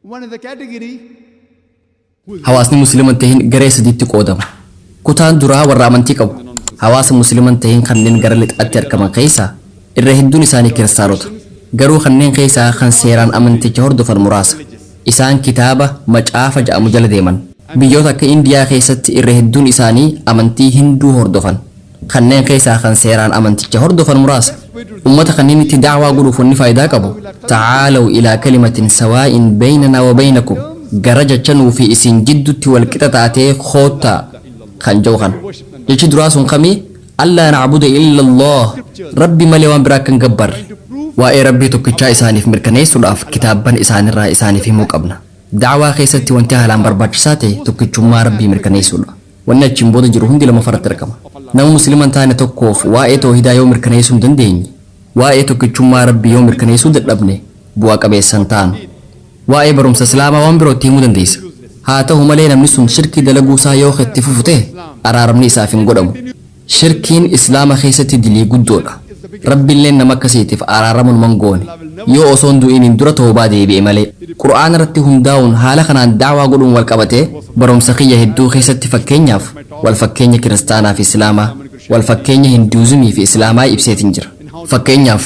One of the category Hawaasni Muslima hin tahin garee sadiitti qoodama. Kutaan duraa warra amantii qabu. Hawaasa Muslima hin tahin kanneen gara lixaatti argaman keessaa irra hedduun isaanii Kiristaanota. Garuu kanneen keessaa kan seeraan amanticha hordofan muraasa. Isaan kitaaba, macaafa, ja'amu jala deeman. Biyyoota akka Indiyaa keessatti irra hedduun isaanii amantii Hinduu hordofan. Kanneen keessaa kan seeraan amanticha hordofan muraasa. Ummata kanneenitti da'waa godhuuf wanni faaydaa qabu, Ta'aalaw ilaa kalimatin sawaa'in baynanaa wa baynakum, Gara jecha nuu fi isin jiddutti wal qixa taatee koottaa! kan je'u kana. Jechi duraa sun kami? Allaa na'buda illa Allaah, Rabbi malee waan biraa akka hin gabbarre. Waa'ee Rabbii tokkichaa isaaniif mirkaneessuudhaaf kitaabban isaanirraa isaaniif himuu qabna. Da'waa keessatti wanti haalaan barbaachisaa ta'e tokkichummaa Rabbii mirkaneessuudha. Wanni achiin booda jiru hundi lammaffaa irratti argama. Nama Muslima hin taane tokkoof waa'ee tawhiidaa yoo mirkaneeysuu hin dandeenye, waa'ee tokkichummaa Rabbii yoo mirkaneeysuu dadhabne bu'a qabeessa hin taanu. Waa'ee barumsa Islaamaa waan biroo itti himuu dandeeysa. Haa tahu malee namni sun shirkii dalaguu isaa yoo ka itti fufu tahe, araaramni isaaf hin godhamu. Shirkiin Islaama keessatti dilii guddoodha. Rabbilleen nama akkasiitiif araarama numa hin goone. Yoo osoo hin du'iniin dura tawbaa deebi'e malee. Qur'aana irratti hundaa'uun haala kanaan da'waa godhuun wal qabatee barumsa kiyya hedduu keessatti fakkeenyaaf wal fakkeenya Kiristaanaa fi Islaamaa, wal fakkeenya Hinduuzimii fi Islaamaa ibseetiin jira. Fakkeenyaaf.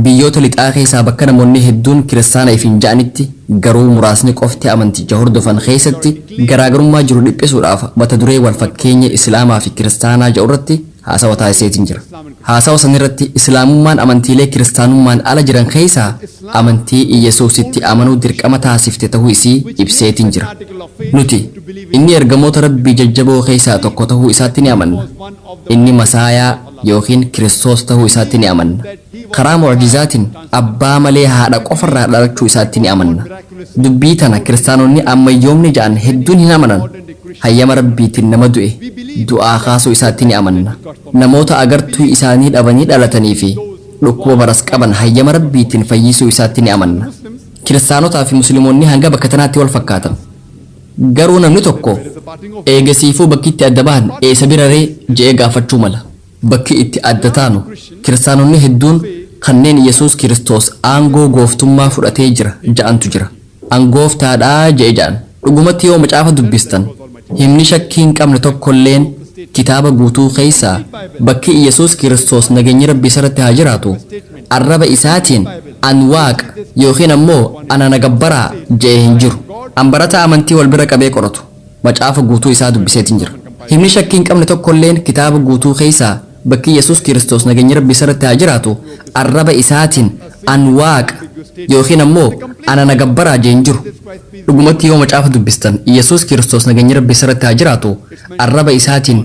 Biyyoota lixaa keessaa bakka namoonni hedduun kiristaana ifiin ja'anitti garuu muraasni qofti amanticha hordofan keessatti garaagarummaa jiru dhiphisuudhaaf mata duree wal fakkeenya Islaamaa fi Kiristaanaa ja'urratti haasawa taasiseetiin jira. Haasawa sanirratti Islaamummaan amantiilee kiristaanummaan ala jiran keessaa amantii Iyyesuusitti amanuu dirqama taasifte tahuu isii ibseetiin jira. Nuti, Inni ergamoota Rabbii jajjaboo keessaa tokko tahuu isaatti ni amanna. Inni Masaayaa, ykn Kiristoos ta'uu isaatti ni amanna. Karaa mu'jizaatiin abbaa malee haadha qofa irraa dhalachuu isaatti ni amanna. Dubbii tana Kiristaanonni ammayyoomni ja'an hedduun hin amanan. Hayyama Rabbiitiin nama du'e du'aa kaasuu isaatti ni amanna. Namoota agartuu isaanii dhabanii dhalatanii fi dhukkuba maras qaban hayyama Rabbiitiin fayyisuu isaatti ni amanna. Kiristaanotaa fi Muslimoonni hanga bakka tanaatti wal fakkaatan. Garuu namni tokko, Eegasiifuu bakki itti adda bahan eessa bira ree? jedhee gaafachuu mala. Bakki itti adda taanu, Kiristaanonni hedduun kanneen Yesuus Kiristoos aangoo gooftummaa fudhatee jira ja'antu jira. An gooftaa dha jedhe ja'an. Dhugumatti yoo macaafa dubbistan, himni shakkii hin qabne tokkolleen kitaaba guutuu keessaa bakki Yesuus Kiristoos nageenyi Rabbii isarratti haa jiraatu, arraba isaatiin, An Waaqa ykn ammoo Ana na gabbaraa je'e hin jiru. An barataa amantii wal bira qabee qoratu, Macaafa guutuu isaa dubbiseetiin jira. Himni shakkii hin qabne tokkolleen kitaaba guutuu keessaa bakki Yesuus Kiristoos nageenyi Rabbii isarratti haa jiraatu arraba isaatiin, An Waaqa ykn ammoo Ana na gabbaraa je'e hin jiru. Dhugumatti yoo macaafa dubbistan Yesuus Kiristoos nageenyi Rabbii isarratti haa jiraatu arraba isaatiin,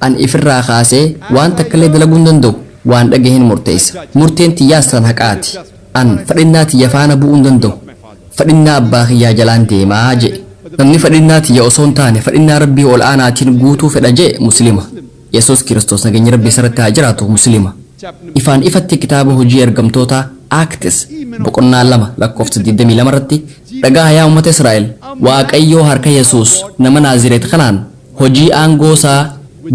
Ani ifirraa kaasee waan takkallee dalaguu hin danda'u, waan dhagaheen murteessa. Murteen tiyyaas tan haqaati. An fedhinnaa tiyya faana bu'uu hin danda'u. Fedhinnaa abbaa kiyyaa jalaan deema je'e. Namni fedhinnaa tiyya osoo hin taane fedhinnaa Rabbii ol'aanaatiin guutuu fedha je'e Muslima. Yesuus Kiristoos nageenyi Rabbii isarratti haa jiraatu Muslima. Ifaan ifatti kitaaba Hujii Ergamtootaa, Acts, boqonnaa 2 lakkoofsa 22 irratti, Dhagaha yaa ummata Israa'el, Waaqayyoo harka Yesuus nama Naazireet kanaan, hojii aangoo isaa,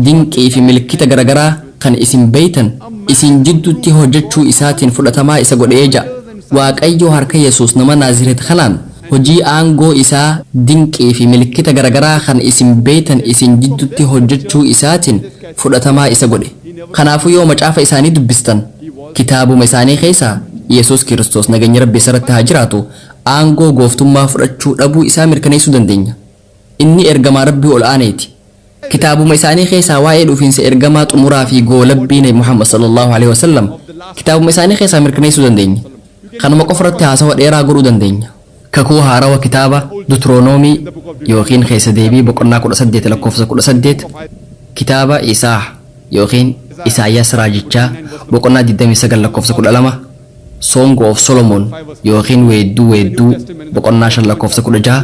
dinqii fi milkita garagaraa kan isin beeytan isin jiddutti hojjachuu isaatiin fudhatamaa isa godhee ja'a. Waaqayyoo harka Yesuus nama Naazireet kanaan hojii aangoo isaa, dinqii fi milkita garagaraa kan isin beeytan isin jiddutti hojjachuu isaatiin fudhatamaa isa godhe. Kanaafuu yoo macaafa isaanii dubbistan kitaabuma isaanii keessaa Yesuus Kiristoos nagenyi Rabbi isarratti haa jiraatu aangoo gooftummaa fudhachuu dhabuu isaa mirkaneessuu dandeenya. Inni Ergamaa Rabbii ol aaneeti. Kitaabuma isaanii keessaa waa'ee dhufiinsa Ergamaa xumuraa fi goolabbii Nabi Muhammad sallallaahu aleyhi wasallam kitaabuma isaanii keessaa mirkaneessuu dandeenya. Kanuma qofa irratti haasawa dheeraa godhuu dandeenya. Kakuu Haarawa kitaaba Dutronoomii ykn Keessa Deebii boqonnaa 18 lakkoofsa 18, kitaaba Isaah ykn Isaayyaas Raajichaa boqonnaa 29 lakkoofsa 12, Song of Solomon ykn Weedduu Weedduu boqonnaa 5 lakkoofsa 16,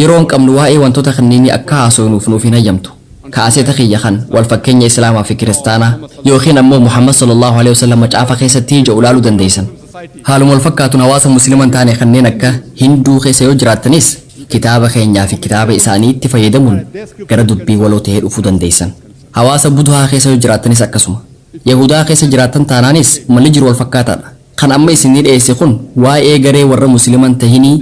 Yeroo hin qabnu waa'ee wantoota kanneenii akka haasofnuuf nuuf hin hayyamtu. Kaaseeta kiyya kan, Walfakkeenya Islaamaa fi Kiristaanaa, ykn ammoo Muhammad sallallaahu aleyhi wasallam macaafa keessatti ja'u laaluu dandeeysan. Haaluma wal fakkaatuun hawaasa Muslima hin taane kanneen akka Hinduu keessa yoo jiraattanis kitaaba keenyaa fi kitaaba isaaniitti fayyadamuun gara dubbii waloo ta'ee dhufuu dandeeysan. Hawaasa Budhaa keessa yoo jiraattanis akkasuma. Yahuudaa keessa jiraattan taanaanis malli jiru wal fakkaataadha. Kan amma isinii dheyesse kun waa'ee garee warra Muslima hin tahinii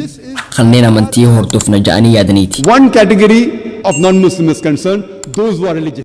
kanneen amantii hordofna ja'anii yaadaniiti. One category of non-Muslims concern those who are religious.